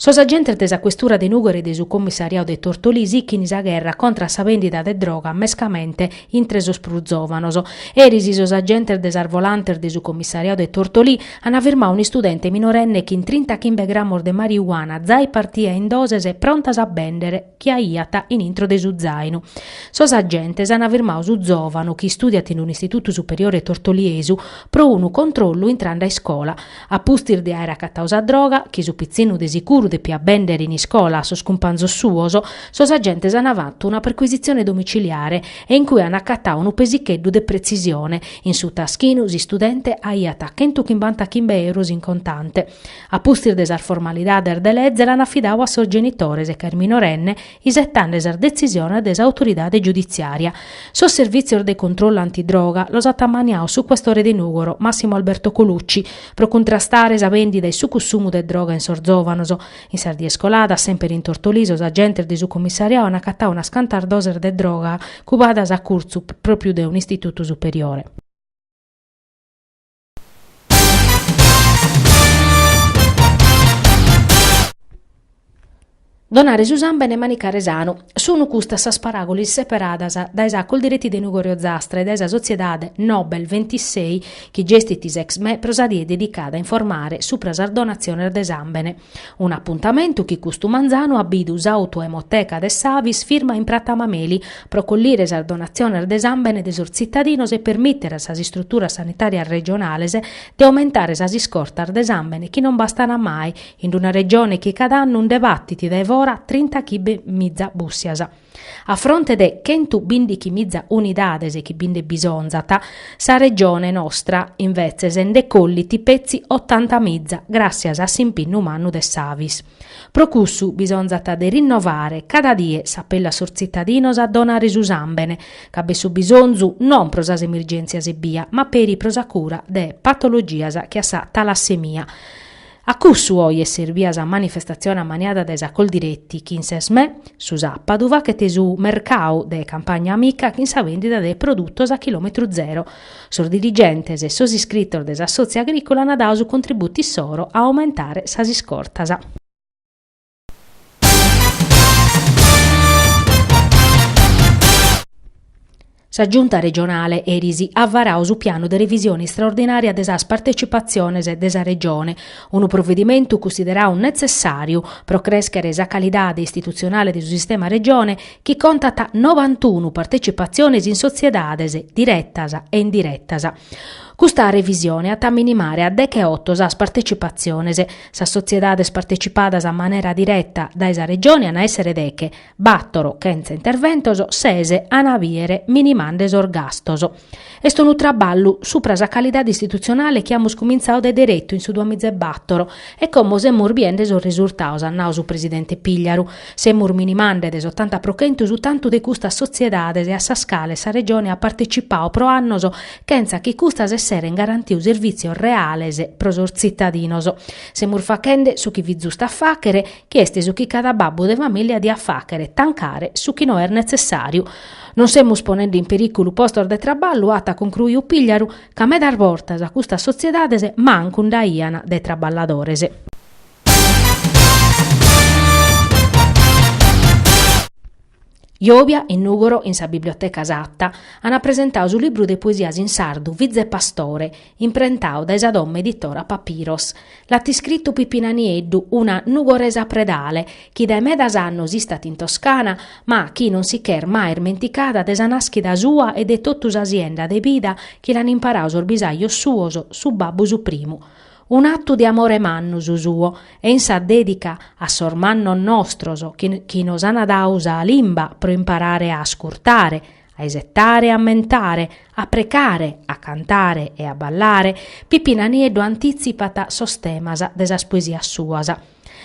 Sos agentes de sa questura de Nùgoro e de su commissariadu de Tortolì sichint sa gherra contra a sa bèndida de droga mescamente intre sos prus zòvanos. Eris sos agentes de sas volantes de su commissariadu de Tortolì ant firmadu un'istudente minorenne chin trinta chimbe grammos de marijuana zai partida in doses prontas a bèndere. chi aiat in intro de su zainu. Sos agentes an firmadu su zòvanu, chi istùdiat in un'istitutu superiore tortoliesu, pro unu controllu intrande a iscola. A pustis de àere acatadu sa droga, chi su pitzinnu de sicuru depiat bèndere in iscola a sos cumpanzos suos, sos agentes an fatu una percuisitzione domiciliare e in cue an acatadu unu pesicheddu de pretzisione, in su taschinu s'istudente aiat chentu chimbanta chimbe euros in contante. A pustis de sas formalidades de leze l'an afidadu a sos genitores ca est minorenne isetande sas detzisiones de s'autoridade giuditziària. Sos servìtzios de controllu antidroga los at ammaniadu su questore de Nùgoro, Massimo Alberto Colucci, pro cuntrastare sa bèndida e su cussumu de droga in sos zòvanos. In sas dies coladas, semper in Tortolì, sos agentes de su comissariadu an acatadu unas cantas doses de droga cubadas a curtzu pròpiu de un'istitutu superiore. Donare su sàmbene e manicare sanu, sunu custas sas paràgulas seperadas dae sa Coldiretti de Nùgoro e Ozastra e dae sa Sotziedade Nobel ventisei chi gestit s'ExMe pro sa die dedicada a informare supra sas donatziones de sàmbene. Un'apuntamentu chi custu manzanu at bidu s'Autoemoteca de s'Avis firma in Prata Mameli pro collire sas donatziones de sàmbene de sos tzitadinos e permìtere a sas istruturas sanitàrias regionales de aumentare sas iscortas de sàmbene chi non bastan mai in una Regione chi cada annu nde batit dae fora trinta chimbe miza bùssias. A fronte de chentu bindichimiza unidades chi bi nde bisonzat, sa Regione nostra, invetzes, nde collit petzi otantamiza gràssias a s'impinnu mannu de s'Avis. Pro cussu bisonzat de rinnovare cada die s'apellu a sos tzitadinos a donare su sàmbene, ca b'est su bisonzu non pro sas emergèntzias ebbia, ma peri pro sa cura de patologias che a sa talassemia. A cussu oje est serbia sa manifestatzione ammaniada dae sa Coldiretti chi in s'ExMe, su sàpadu, fachet su mercau de Campagna Amica chin sa bèndida de produtos a chilòmetru zero. Sos dirigentes e sos iscritos de s'assòtziu agrìcola ant dadu su contributu issoro a aumentare sas iscortas. Sa Giunta regionale eris at varadu su pianu de revisione istraordinària de sas partecipatziones de sa Regione, unu provedimentu cunsideradu netzessàriu pro crèschere sa calidade istitutzionale de su sistema Regione chi contat nobantunu partecipatziones in sotziedades diretas e indiretas. Custa revisione at a minimare a deche-oto sas partecipatziones, Sas sotziedades partecipadas a manera direta dae sa Regione an a èssere deche, bàtoro, chentza interventos, sese, an a bìdere minimande sos gastos. Est unu traballu supra sa calidade istitutzionale chi amus cumintzadu de deretu in su duamizaebàtoro e como semus biende sos risurtados, at nadu su presidente Pigliaru, semus minimande de s'otanta pro chentu su tantu de custas sotziedades a sas cales sa Regione at participadu pro annos chentza chi custas esseren garantiu servìtzios reales pro sos tzitadinos. Semus faghende su chi fit zustu a fàghere, chi est su chi cada babbu de famìlia diat fàghere, tancare su chi no est netzessàriu. Non semus ponende in perìculu postos de traballu, at concruiu Pigliaru, ca medas bortas custas sotziedades mancu nd'aian de traballadores. Jòbia in Nùgoro in sa Biblioteca Satta an apresentadu su libru de poesias in sardu Fiza e Pastore, imprentadu dae sa domo editora Papiros. L'at iscritu Pippina Nieddu, una nugoresa predale, chi dae medas annos istat in Toscana, ma chi non si ch'est mai ismenticada de sa nàschida sua e de totu sa sienda de bida chi l'an imparadu sos bisajos suos, su babbu su primu. Un'atu de amore mannu su suo e in sa dedica a sos mannos nostros chi nos an dadu sa limba pro imparare a ascurtare, a isettare e a ammentare, a precare, a cantare e a ballare, Pippina Nieddu antitzipat sos temas de sas poesias suas.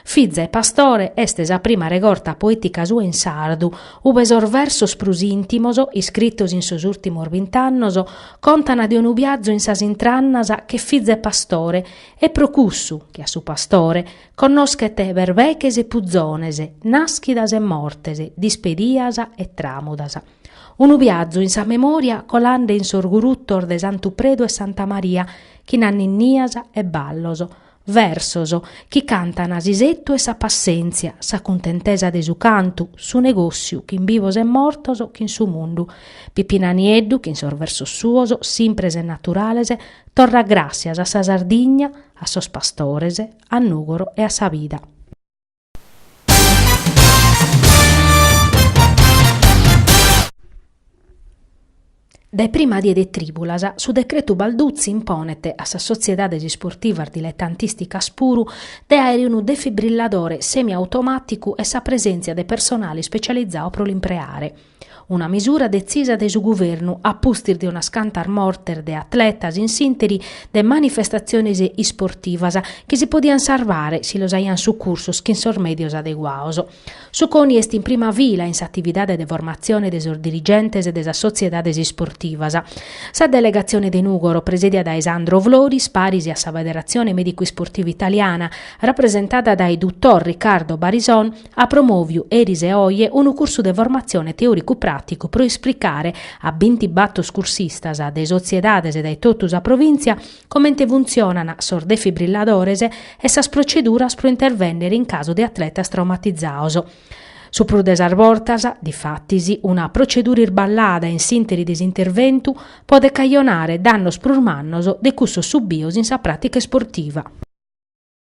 Fiza e Pastore est sa prima regorta poètica sua in sardu, ube sos versos prus ìntimos, iscritos in sos ùrtimos bint'annos, contan de unu biazu in sas intrannas che fiza e pastore, e pro cussu, che a su pastore, connoschet berbeches e puzones, nàschidas e mortes, dispedias e tràmudas. Unu biazu in sa memòria colande in sos gurutos de Santu Predu e Santa Maria, chin anninnias e ballos, Versos chi cantan s'isettu e sa passèntzia, sa cuntentesa de su cantu, su negòssiu chin bivos e mortos, chin su mundu. Pippina Nieddu, chin sos versos suos, simpres e naturales, torrat gràssias a sa Sardigna, a sos pastores, a Nùgoro e a sa vida. Dae prima die de trìbulas, su decretu Balduzzi imponet a sas sotziedades isportivas diletantìsticas puru de àere unu defibrilladore semiautomàticu e sa presèntzia de personale ispetzializadu pro l'impreare. Una misura detzisa de su Governu a pustis de unas cantas mortes de atletas in s'interi de manifestatziones isportivas chi si podian sarvare si los aian sucursos chin sos mèdios adeguaos. Su CONI est in prima fila in s'atividade de formatzione de sos dirigentes e de sas sotziedades isportivas. Sa delegatzione de Nùgoro, presèdia dae Sandro Floris, paris a sa Federatzione Mèdicu-Isportiva Italiana, rapresentada dae dotor Riccardo Barison, at promòviu eris e oje unu cursu de formatzione teòricu-pràticu pro esplicare a bintibator cursistas de sotziedades dae totu sa provìntzia comente funtzionan sos defibrilladores e sas protzeduras pro intervènnere in casu de atletas traumatizaos. Su prus de sas bortas, difatis, una protzedura irballada in s'ìnteri de s'interventu podet cajonare dannos prus mannos de cussos subios in sa pràtica isportiva.